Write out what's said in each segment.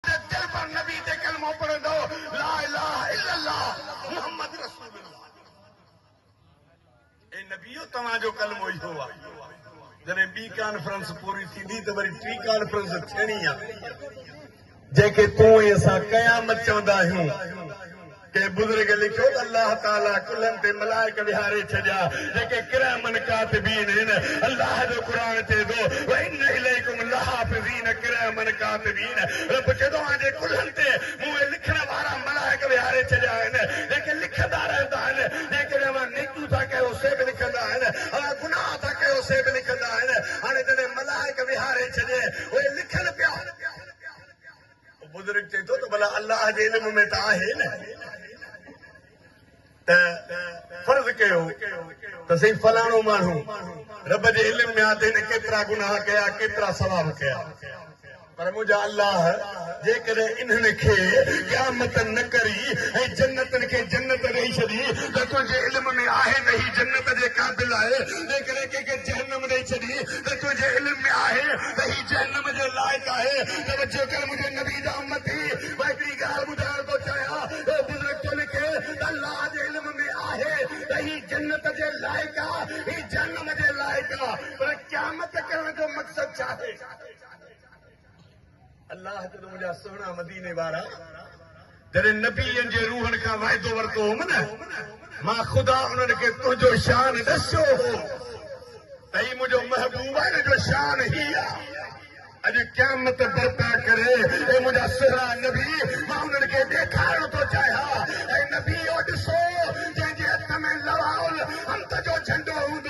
ته دل ڀر نبي تي ڪلمو پڙهندو، لا اله الا الله محمد رسول الله. اي نبيو توهان جو ڪلمو اهو آهي. جڏهن ٻي ڪانفرنس پوري ٿيندي ته وري ٽي ڪانفرنس ٿيڻي آهي. جنهن کي تون ۽ اسان قيامت چوندا آهيون. ڪنهن بزرگ لکيو ته الله تعاليٰ ڪلهن تي ملائڪ ويهاري ڇڏيا جيڪي ڪراما ڪاتبين هن الله جو قرآن چئي ٿو وان اليڪم لحافظين ڪراما ڪاتبين رب چئي ٿو آنجي ڪلهن تي مون اهي لکڻ وارا ملائڪ ويهاري ڇڏيا آهن جيڪي لکندا رهندا آهن جيڪڏهن اوهان نيڪيون ٿا ڪيو سي به لکندا آهن اوهان گناهه ٿا ڪيو سي به لکندا آهن هاڻي جڏهن ملائڪ ويهاري ڇڏي اهي لکن پيا بزرگ چئي ٿو ته ڀلا الله جي علم ۾ ته آهي نه ته فرض ڪيو ته سائين فلاڻو ماڻهو رب جي علم ۾ آهي ته هن ڪيترا گناهه ڪيا ڪيترا ثواب ڪيا پر منهنجا الله جيڪڏهن انهن کي قيامت نه ڪري ۽ جنتن کي جنت ڏئي ڇڏي ته تنهنجي علم ۾ آهي ته هي جنت جي قابل آهي جيڪڏهن ڪنهن کي جهنم ڏئي ڇڏي ته تنهنجي علم ۾ آهي ته هي جهنم جي لائق آهي، توجه ڪر منهنجي نبي جا امتي، مان هڪڙي ڳالهه ٻڌائڻ ٿو چاهيان، اهو بزرگ ٿو لکي ته الله جي علم ۾ آهي ته هي جنت جي لائق آ هي جهنم جي لائق آ پر قيامت ڪرڻ جو مقصد ڇاهي؟ الله جڏهن منهنجا سهڻا مديني وارا جڏهن نبين جي روحن کان وعدو ورتو هوم نه مان خدا انهن کي تنهنجو شان ڏسيو هو ته هي منهنجو محبوب آهي ان جو شان هي آهي اڄ قيامت برپا ڪري اي منهنجا سهڻا نبي مان انهن کي ڏيکارڻ ٿو چاهيان اي نبيو ڏسو جنهن جي هٿ ۾ لواء الحمد جو جهنڊو هوندو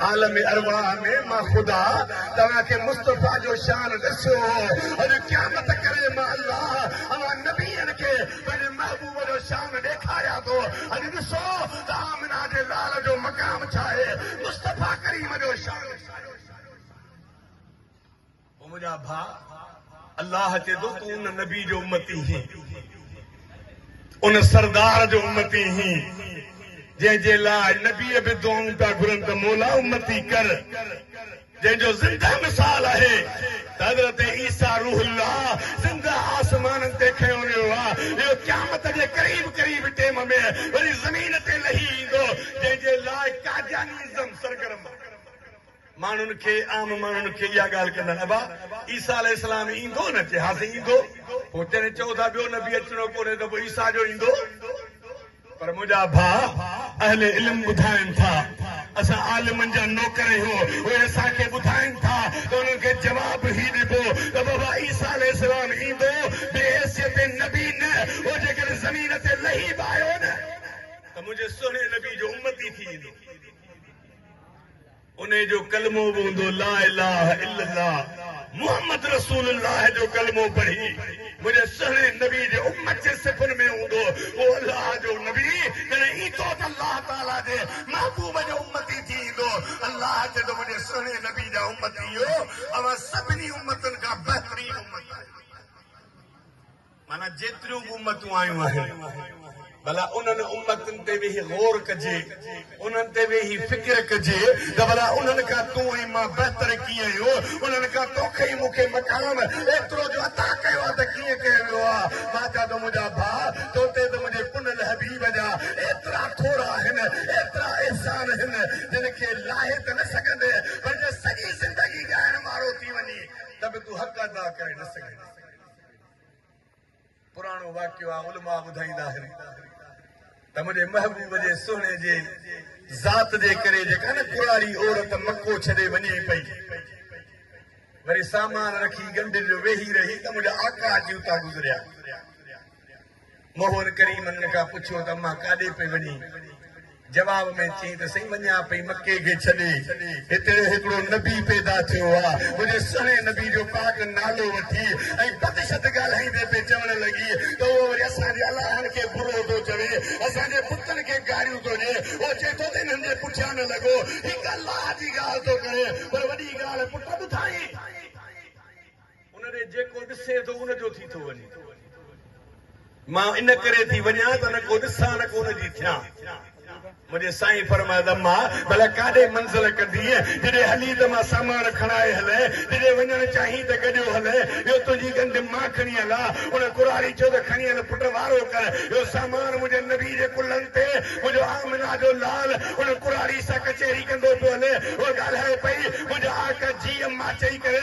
عالم ارواح ۾ مان خدا توهان کي مصطفيٰ جو شان ڏسيو هو، اڄ قيامت ڪري مان الله اوهان نبين کي پنهنجي محبوب جو شان ڏيکاريان ٿو، اڄ ڏسو ته آمنه جي لال جو مقام ڇا آهي، مصطفيٰ ڪريم جو شان ڇا آهي. او منهنجا ڀاء! الله چئي ٿو تون ان نبي جو امتي هين، ان سردار جو امتي هين، جنهن جي لاء نبي به دعائون پيا گهرن ته مولا امتي ڪر. جنهن جو زنده مثال آهي ته حضرت عيسيٰ روح الله زنده آسمانن تي کنيو ويو آهي، اهو قيامت جي قريب قريب ٽيم ۾ وري زمين تي لهي ايندو، جنهن جي لاء قادياني ازم سرگرم آهي. ماڻهن کي، عام ماڻهن کي اها ڳالهه ڪندڙ، ابا! عيسيٰ عليه السلام ايندو نه؟ چي ها سائين ايندو. پوء جڏهن چئو ٿا ٻيو نبي اچڻو ڪونهي ته پوء عيسيٰ جو ايندو؟ پر منهنجا ڀاء اهل علم ٻڌائين ٿا، اسان عالمن جا نوڪر اهو اهي اسان کي ٻڌائين ٿا ته انهن کي جواب هي ڏبو ته بابا عيسيٰ عليه السلام ايندو بي حيثيت نبي نه اهو جيڪڏهن زمين تي لهي به آيو نه ته منهنجي سهڻي نبي جو امتي ٿي ايندو. انهي جو ڪلمو به هوندو لا اله الا الله محمد رسول الله جو ڪلمو پڙهي منهنجي سهڻي نبي جي امت جي صفن ۾ هوندو هو الله جو نبي جڏهن ايندو ته الله تعالي جي محبوب جو امتي ٿي ايندو الله چوندو منهنجي سهڻي نبي جا امتيو اوهان سڀني امتن کان بهترين امت آهيو. معنيٰ جيتريون به امتون آيون آهن، ڀلا انهن امتن تي ويهي غور ڪجي، انهن تي ويهي فڪر ڪجي ته ڀلا انهن کان تون ۽ مان بهتر ڪيئن آهيون، انهن کان توکي ۽ مون کي مقام ايترو جو عطا ڪيو آهي ته ڪيئن ڪيو ويو آهي؟ مان چان ٿو منهنجا ڀاء تو تي ته منهنجي پنهل حبيب جا ايترا ٿورا آهن، ايترا احسان آهن، جن کي لاهي ته نه سگهندين پر جي سڄي زندگي ڳائڻ مارو ٿي وڃين ته به تون حق ادا ڪري نه سگهندين. پراڻو واقعو آ علماء ٻڌائيندا آهن ته منهنجي محبوب جي سهڻي جي ذات جي ڪري جيڪا نه ڪراري عورت مڪو ڇڏي وڃي پئي وري سامان رکي ڳنڍين جو ويهي رهي ته منهنجا آقا اچي اتان گذريا مهر ڪريم ان کان پڇيو ته امان ڪاڏي پئي وڃين؟ جواب ۾ چيائين ته سائين وڃان پئي مڪي کي ڇڏي، هتي هڪڙو نبي پيدا ٿيو آ، منهنجي سهڻي نبي جو پاڪ نالو وٺي ۽ بدشد ڳالهائيندي پئي چوڻ لڳي ته اهو وري اسان جي الهن کي برو ٿو چوي، اسان جي بتن کي گاريون ٿو ڏي، اهو چئي ٿو ته انهن جي پٺيان نه لڳو، هڪ الله جي ڳالهه ٿو ڪري، پر وڏي ڳالهه پٽ ٻڌائين. ان ڏي جيڪو ڏسي ٿو ان جو ٿي ٿو وڃي. مان ان ڪري ٿي وڃان ته نه ڪو ڏسان نه ڪو ان جي ٿيان. منهنجي سائين فرمايو ته اما ڀلا ڪاڏي منزل ڪندينء؟ جڏهن هلين ته مان سامان کڻائي هلين، جڏهن وڃڻ چاهين ته گڏيو هلين. اهو تنهنجي ڳنڍ مان کڻي هلان. ان ڪرهاڙي چيو ته کڻي هل پٽ وارو ڪر. اهو سامان منهنجي نبي جي ڪلهن تي. منهنجو آمنه جو لال ان ڪرهاڙي سان ڪچهري ڪندو پيو هلي. هوء ڳالهائي پئي، منهنجا آقا جي اما چئي ڪري.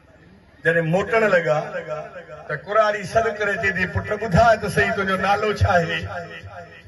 جڏهن موٽڻ لڳا ته ڪراڙي سڏ ڪري چئي ٿي، پٽ ٻڌاء ته سهي تنهنجو نالو ڇا آهي؟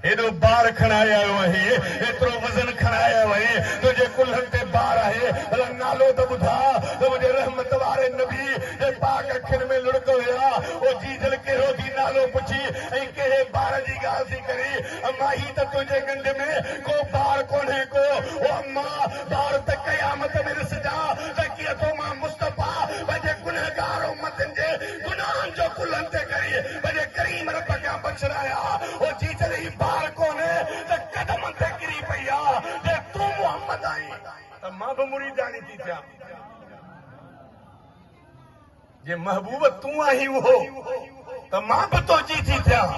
هيڏو بار کڻائي آيو آهين، هيترو وزن کڻائي آيو آهين، تنهنجي ڪلهن تي بار آهي، ڀلا نالو ته ٻڌاء ته منهنجي رحمت واري نبي جي پاڪ اکين ۾ لڙڪ هيا. او جيجل ڪهڙو ٿي نالو پڇين ۽ ڪهڙي بار جي ڳالهه ٿي ڪرين، اما هي ته تنهنجي ڳنڍ ۾ ڪو بار ڪونهي ڪو، او اما! دار ته قيامت ۾ ڏسجاء ته ڪيئن ٿو مان مصطفيٰ پنهنجي گنهگار امتن جي گناهن جو ڪلهن تي کري پنهنجي ڪريم رب کان بخشرايان هو جي جڏهن هي بار ڪونهي ته قدمن تي ڪري پئي آ جي تون محمد آهين ته مان به مريداڻي ٿي ٿيان. جي محبوب تون آهين اهو ته مان به توجي ٿي ٿيان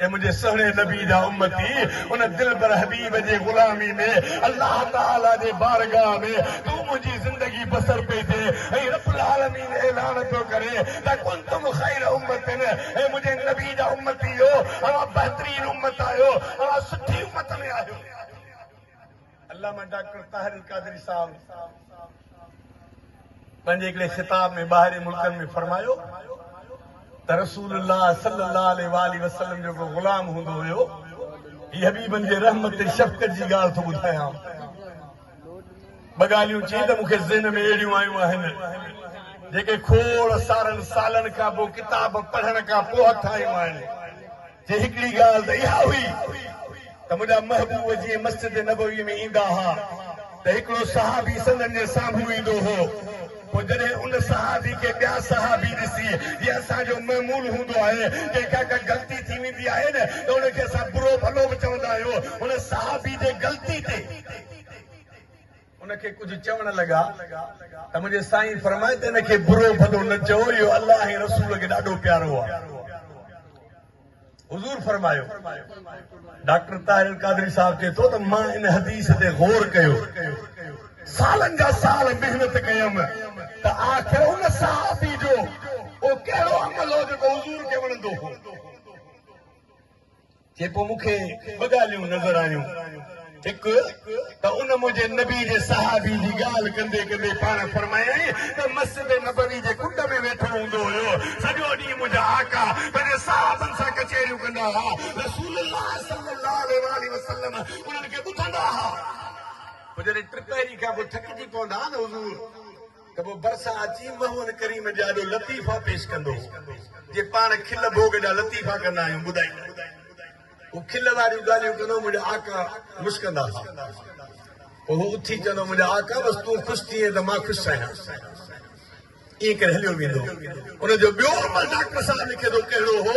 اي منهنجي سهڻي نبي جا امتي ان دلبر حبيب جي غلامي ۾ الله تعالي جي بارگاهه ۾ تون منهنجي زندگي بسر پئي ٿي ۽ رب العالمين اعلان ٿو ڪري ته ڪنتم خير امتن اي منهنجي نبي جا امتيو اوهان بهترين امت آهيو اوهان سٺي امت ۾ آهيو علامه ڊاڪٽر طاهر القادري صاحب پنهنجي هڪڙي خطاب ۾ ٻاهرين ملڪن ۾ فرمايو ته رسول الله صلي الله عليه واٰله وسلم جو ڪو غلام هوندو هيو هي حبيبن جي رحمت ۽ شفقت جي ڳالهه ٿو ٻڌايان ٻه ڳالهيون چئي ته مون کي ذهن ۾ اهڙيون آيون آهن جيڪي کوڙ سارن سالن کان پوء ڪتاب پڙهڻ کان پوء هٿ آيون آهن جي هڪڙي ڳالهه ته اها هئي ته منهنجا محبوب جيئن مسجد نبوي ۾ ايندا ها ته هڪڙو صحابي سندن جي سامهون ايندو هو، پوء جڏهن ان صحابي کي ٻيا صحابي ڏسي جيئن اسان جو معمول هوندو آهي ڪنهن کان ڪا غلطي ٿي ويندي آهي نه ته ان کي اسان برو ڀلو به چوندا آهيون، هن صحابي جي غلطي تي. ان کي ڪجهه چوڻ لڳا ته منهنجي سائين فرمائي ته ان کي برو ڀلو نه چئو اهو الله ۽ رسول کي ڏاڍو پيارو آهي حضور فرمايو ڊاڪٽر طاهر القادري صاحب چئي ٿو ته مان ان حديث تي غور ڪيو سالن جا سال محنت ڪيم ته آخر ان صحابي جو اهو ڪهڙو عمل هو جيڪو حضور کي وڻندو هو جيڪو مون کي ٻه ڳالهيون نظر آيون، هڪ ته ان منهنجي نبي جي صحابي جي ڳالهه ڪندي ڪندي پاڻ فرمايائين ته مسجد نبوي جي ڪنڊ ۾ ويٺو هوندو هيو، سڄو ڏينهن منهنجا آقا پنهنجي صحابن سان ڪچهريون ڪندا ها، رسول الله صلي الله عليه واٰله وسلم انهن کي ٻڌندا ها. پوء جڏهن ٽپهري کان پوء ٿڪجي پوندا ها نه حضور! ته پوء ڀرسان اچي محمد ڪريم جي آڏو لطيفا پيش ڪندو هو. جي پاڻ کل ڀوڳ جا لطيفا ڪندا آهيون ٻڌائيندا آهيون. هو کل واريون ڳالهيون ڪندو منهنجا آقا مسڪندا ها. پوء هو اٿي چوندو هو منهنجا آقا بس تون خوش ٿئين ته مان خوش آهيان. ائين ڪري هليو ويندو هو. ان جو ٻيو عمل ڊاڪٽر صاحب لکي ٿو ڪهڙو هو.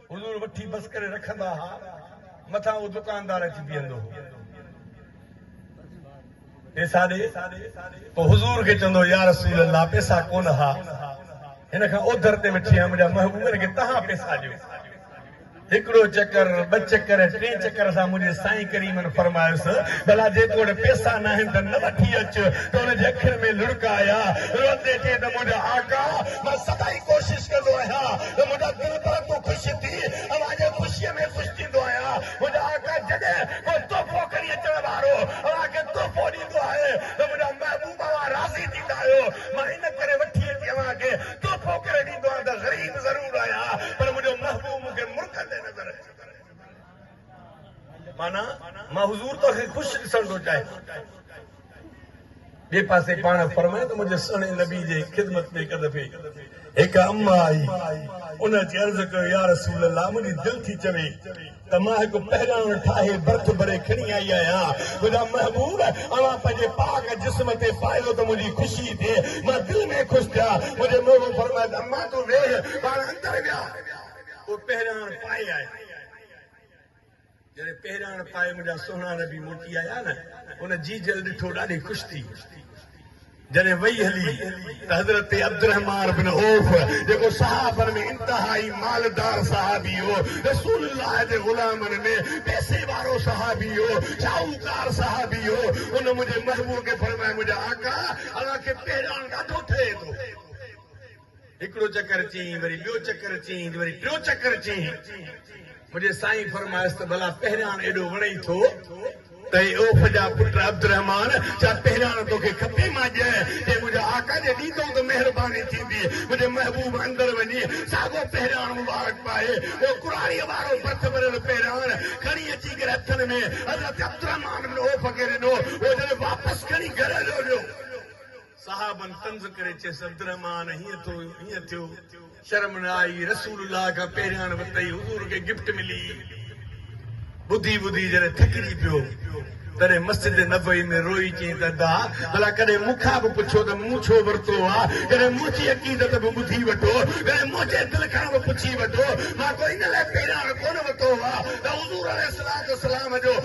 حضور وٺي بس ڪري رکندا ها، مٿان اهو دڪاندار اچي بيهندو هو، پيسا ڏي، پوء حضور کي چوندو هو، يا رسول الله پيسا ڪونه ها، هن کان اوڌر تي وٺي آيم، منهنجا محبوب هن کي توهان پيسا ڏيو. هڪڙو چڪر، ٻه چڪر، ٽئين چڪر اسان منهنجي سائين ڪريمن فرمايس، ڀلا جيڪو وٽ پيسا ناهن ته نه وٺي اچ، ته هن جي اکين ۾ لڙڪ آيا، روئندي چيائين ته منهنجا آقا! مان سدائين ڪوشش ڪندو آهيان، ته منهنجا دل پرندو خوش ٿي اوهان جي خوشيء ۾ خوش ٿيندو آهيان. منهنجا آقا جڏهن ڪو تحفو کڻي اچڻ وارو اوهان کي تحفو ڏيندو آهي ته منهنجا محبوب اوهان راضي ٿيندا آهيو. مان ان ڪري وٺي اچي اوهان کي تحفو ڪري ڏيندو آهيان ته غريب ضرور آهيان پر منهنجو محبوب مون کي مرڪندي نظر اچي ٿو. معنيٰ مان حضور تو کي خوش ڏسڻ ٿو چاهيان. ٻئي پاسي پاڻ فرمائي ته منهنجي سهڻي نبي جي خدمت ۾ هڪ دفعي هڪ اما آئي. ان اچي عرض ڪيو يا رسول الله منهنجي دل ٿي چوي ته مان هڪ پهراڻ ٺاهي برٿ ڀري کڻي آئي آهيان. منهنجا محبوب اوهان پنهنجي پاڪ جسم تي پايو ته منهنجي خوشي ٿئي. مان دل ۾ خوش ٿيان. منهنجي محبوب فرمايو ته اما تون ويهه. پاڻ اندر ويا. اهو پهراڻ پائي آيا. جڏهن پهراڻ پائي منهنجا سهڻا نبي موٽي آيا نه ان جيجل ڏٺو ڏاڍي خوش ٿي جڏهن وئي هلي ته حضرت عبدالرحمان بن عوف جيڪو صحابن ۾ انتهائي مالدار صحابي هو رسول الله جي غلامن ۾ پيسي وارو صحابي هو شاهوڪار صحابي هو ان منهنجي محبوب کي فرمايو منهنجا آقا اوهان کي پهراڻ ڏاڍو ٺهي ٿو هڪڙو چڪر چئين، وري ٻيو چڪر چئين ته وري ٽيون چڪر چئين. منهنجي سائين فرمايس ته ڀلا پهرياڻ ايڏو وڻئي ٿو ته اي عوف جا پٽ عبدالرحمان! ڇا پهرياڻ توکي کپي؟ مان ڄڻ جي منهنجا آقا جي ڏيندئون ته مهرباني ٿيندي. منهنجي محبوب اندر وڃي ساڳو پهرياڻ مبارڪ پائي، اهو قرآڻيء وارو ڀت ڀريل پهرياڻ کڻي اچي ڪري هٿن ۾ حضرت عبدالرحمان بن عوف کي ڏنو. هو جڏهن واپس کڻي گهر هليو ويو. صحابن طنز ڪري چيس، عبدالرحمان هيئن ٿو هيئن ٿيو، شرم نه آئي، رسول الله کان پهرياڻ وتئي حضور کي گفٽ ملي. ٻڌي ٻڌي جڏهن ٿڪجي پيو، تڏهن مسجد نبوي ۾ روئي چيائين ته ادا! ڀلا ڪڏهن مون کان به پڇو ته مون ڇو ورتو آ؟ ڪڏهن منهنجي عقيدت به ٻڌي وٺو، ڪڏهن منهنجي دل کان به پڇي وٺو، مان ڪو ان لاء پهرياڻ ڪونه وتو آ ته حضور عليه الصلوة والسلام جو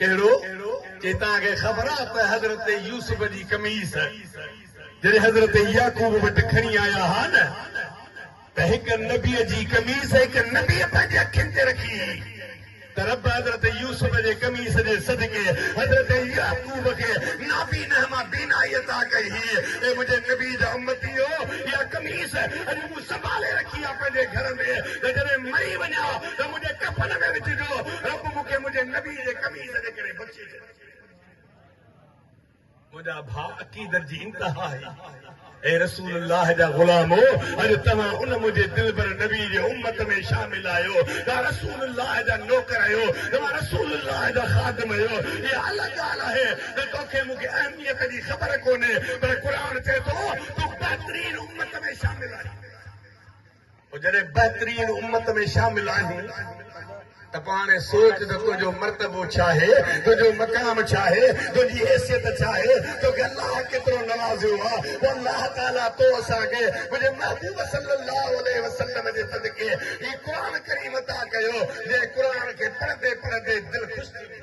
ڪهڙو؟ چي توهان کي خبر آ ته حضرت يوسف جي قميص جڏهن حضرت يعقوب وٽ کڻي آيا ها نه ته هڪ نبيء جي قميص هڪ نبيء پنهنجي اکين تي رکي هئي ته رب حضرت يوسف جي قميص جي صدقي حضرت يعقوب کي نابينه مان بينائي عطا ڪئي هئي اي منهنجي نبي جا امتيو اها قميص اڄ مون سنڀالي رکي آ پنهنجي گهر ۾ ته جڏهن مري وڃان ته منهنجي ڪفن ۾ وجهجو رب مون کي منهنجي نبي جي قميص جي ڪري بخشي ڇڏ. منهنجا ڀاء عقيدت جي انتها هئي. اي رسول الله جا غلامو! اڄ توهان ان منهنجي دلبر نبي جي امت ۾ شامل آهيو. توهان رسول الله جا نوڪر آهيو. توهان رسول الله جا خادم آهيو. اها الڳ ڳالهه آهي ته تو کي مون کي اهميت جي خبر ڪونهي پر قرآن چئي ٿو تون بهترين امت ۾ شامل آهين. پوء جڏهن بهترين امت ۾ شامل آهين ته پوء هاڻي سوچ ته تنهنجو مرتبو ڇا آهي، تنهنجو مقام ڇا آهي، تنهنجي حيثيت ڇا آهي، توکي الله ڪيترو نوازيو آهي. پوء الله تعاليٰ تو اسان کي منهنجي محبوب صلّي اللّٰه عليه وسلّم جي صدقي هي قرآن ڪريم عطا ڪيو، جنهن قرآن کي پڙهندي پڙهندي دل خوش ٿي وئي.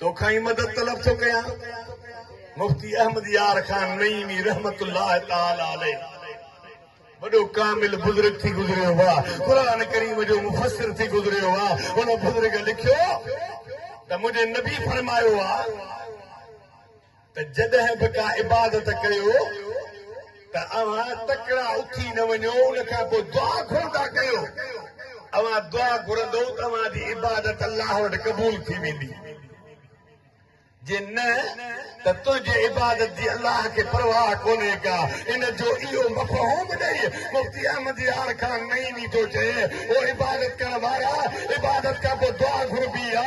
توکان ئي مدد طلب ٿو ڪيان. مفتي احمد يار خان نعيمي رحمة الله تعالٰي عليه وڏو ڪامل بزرگ ٿي گذريو هو، قرآن ڪريم جو مفسر ٿي گذريو هو، ان بزرگ لکيو ته منهنجي نبي فرمايو آهي. ته جڏهن به ڪا عبادت ڪيو ته اوهان تڪڙا اٿي نه وڃو ان کان پوء دعا گهرندا ڪيو اوهان دعا گهرندو ته اوهان جي عبادت الله وٽ قبول ٿي ويندي جي نه ته تنهنجي عبادت جي الله کي پرواهه ڪونهي ڪا ان جو اهو مفهوم ڏئي مفتي احمد يار خان نعيمي ٿو چئي او عبادت ڪرڻ وارا عبادت کان پوء دعا گهربي آ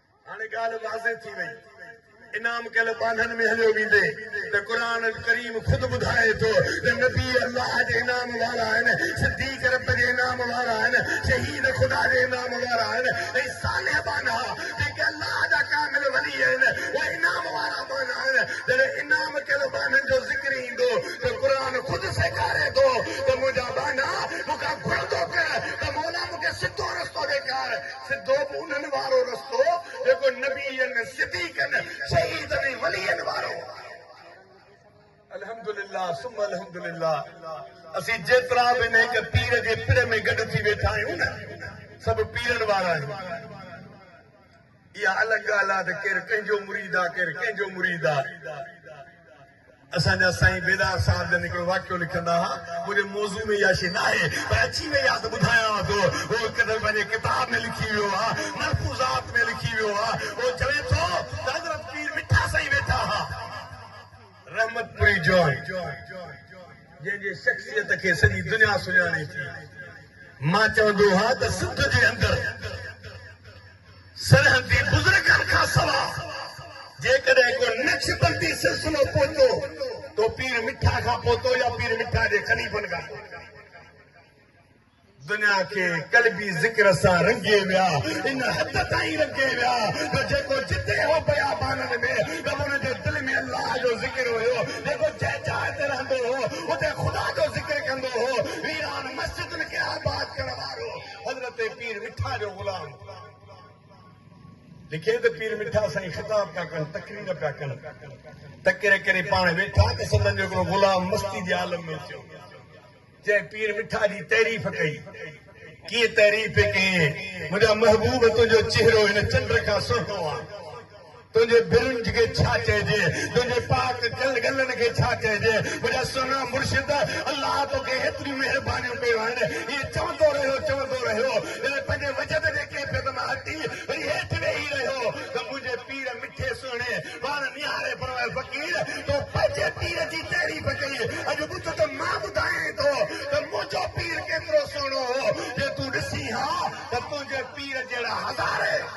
هاڻي ڳالهه واضح ٿي وئي. انعام ڪيل ٻانهن ۾ هليو ويندي ته قرآن ڪريم خود ٻڌائي ٿو ته نبي الله جي انعام وارا آهن، صديق رب جي انعام وارا آهن، شهيد خدا جي انعام وارا آهن ۽ صالح ٻانها جيڪي الله جا ڪامل ولي آهن اهي انعام وارا ٻانها آهن. جڏهن انعام ڪيل ٻانهن جو ذڪر ايندو ته قرآن خود سيکاري ٿو ته منهنجا ٻانها مون کان گهرندو ڪر ته مولا مون کي سڌو رستو ڏيکار. سڌو مونن وارو رستو جيڪو نبين، صديقن، شهيدن ۽ ولين وارو هو. الحمدلله ثم الحمدلله اسين جيترا به نيڪ پير جي پڙ ۾ گڏ ٿي ويٺا آهيون نه سڀ پيرن وارا آهيون. اها الڳ ڳالهه آهي ته ڪير ڪنهن جو مريد آهي ڪير ڪنهن جو مريد آهي. اسان جا سائين بيدار صاحب جن هڪڙو واقعو لکندا ها، منهنجي موضوع ۾ اها شيء ناهي پر اچي وئي آهي ته ٻڌايانو ٿو. اهو هڪ دفعي پنهنجي ڪتاب ۾ لکي ويو آهي، ملفوظات ۾ لکي ويو آهي. اهو چوي ٿو ته حضرت پير مٺا سائين ويٺا ها. رحمت پوري جوڻ جنهن جي شخصيت کي سڄي دنيا سڃاڻي ٿي. مان چوندو ها ته سنڌ جي اندر. سرحدي بزرگن کان سوا جيڪڏهن ڪو نقشبندي سلسلو پهتو تو پير مٺا کان پهتو يا پير مٺا جي خليفن کان پهتو. دنيا کي قلبي ذڪر سان رنگي ويا، ان حد تائين رنگي ويا جو جيڪو جتي هو بيابانن ۾ رڳو ان جي دل ۾ الله جو ذڪر هيو، جيڪو جنهن جاء تي رهندو هو اتي خدا جو ذڪر ڪندو هو، ويران مسجدن کي آباد ڪرڻ وارو. حضرت پير مٺا جو غلام لکي ته پير مٺا سائين خطاب پيا ڪن تقرير پيا ڪن تقرير ڪري پاڻ ويٺا ته سندن جو هڪڙو غلام مستي جي عالم ۾ اچيو جنهن پير مٺا جي تعريف ڪئي ڪيئن تعريف پي ڪيئن منهنجا محبوب تنهنجو چهرو هن چنڊ کان سهڻو آهي تنهنجي برنج کي ڇا چئجي، تنهنجي پاڪ گلن کي ڇا چئجي، منهنجا سهڻا مرشد! الله توکي هيتريون مهربانيون ڪيون آهن. ائين چوندو رهيو، چوندو رهيو، جڏهن پنهنجي وجد جي ڪيفيت مان هٽي وري هيٺ ويهي رهيو ته منهنجي پير مٺي سهڻي! پاڻ نهاري فرمايو، فقير! تو پنهنجي پير جي تعريف ڪئي، اڄ ٻڌ ته مان ٻڌايائين ٿو ته منهنجو پير ڪيترو سهڻو هو. جي تون ڏسين ها ته تنهنجي پير جهڙا هزارين.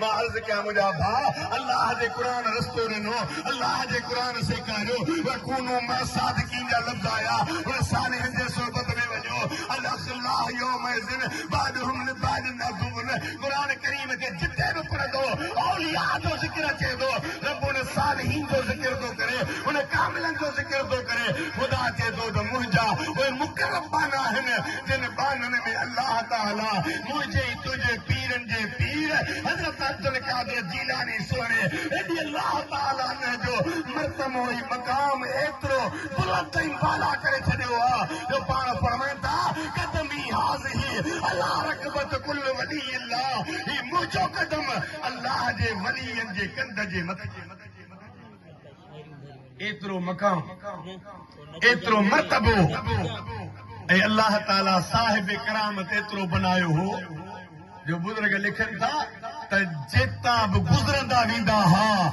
مان عرض ڪيان منهنجا ڀاء الله جي قرآن رستو ڏنو الله جي قرآن سيکاريو وڪونو مع الصادقين جا لفظ آيا وري صالحن جي صحبت ۾ وڃو الاخلاء يومئذ بعضهم لبعض عدو قرآن ڪريم کي جتي به پڙهندو اولياء جو ذڪر اچي ٿو رب ان صالحين جو ذڪر ٿو ڪري ان ڪاملن جو ذڪر ٿو ڪري خدا چئي ٿو ته منهنجا اهي مقرب ٻانها آهن جن ٻانهن ۾ الله تعاليٰ منهنجي ۽ تنهنجي پيرن جي پير حضرت عبدالقادر جيلاني سهڻي رضي الله تعاليٰ عنه جو مرتمو ۽ مقام ايترو بلند ۽ بالا ڪري ڇڏيو آهي جو پاڻ فرمائن ٿا قدمي هٰذه عليٰ رقبة ڪل ولي الله هي منهنجو قدم الله جي ولين جي ڪنڌ جي مٿي ايترو مقام ايترو مرتبو ۽ الله تعالي صاحب ڪرامت ايترو بنايو هو جو بزرگ لکن ٿا ته جيتا به گذرندا ويندا ها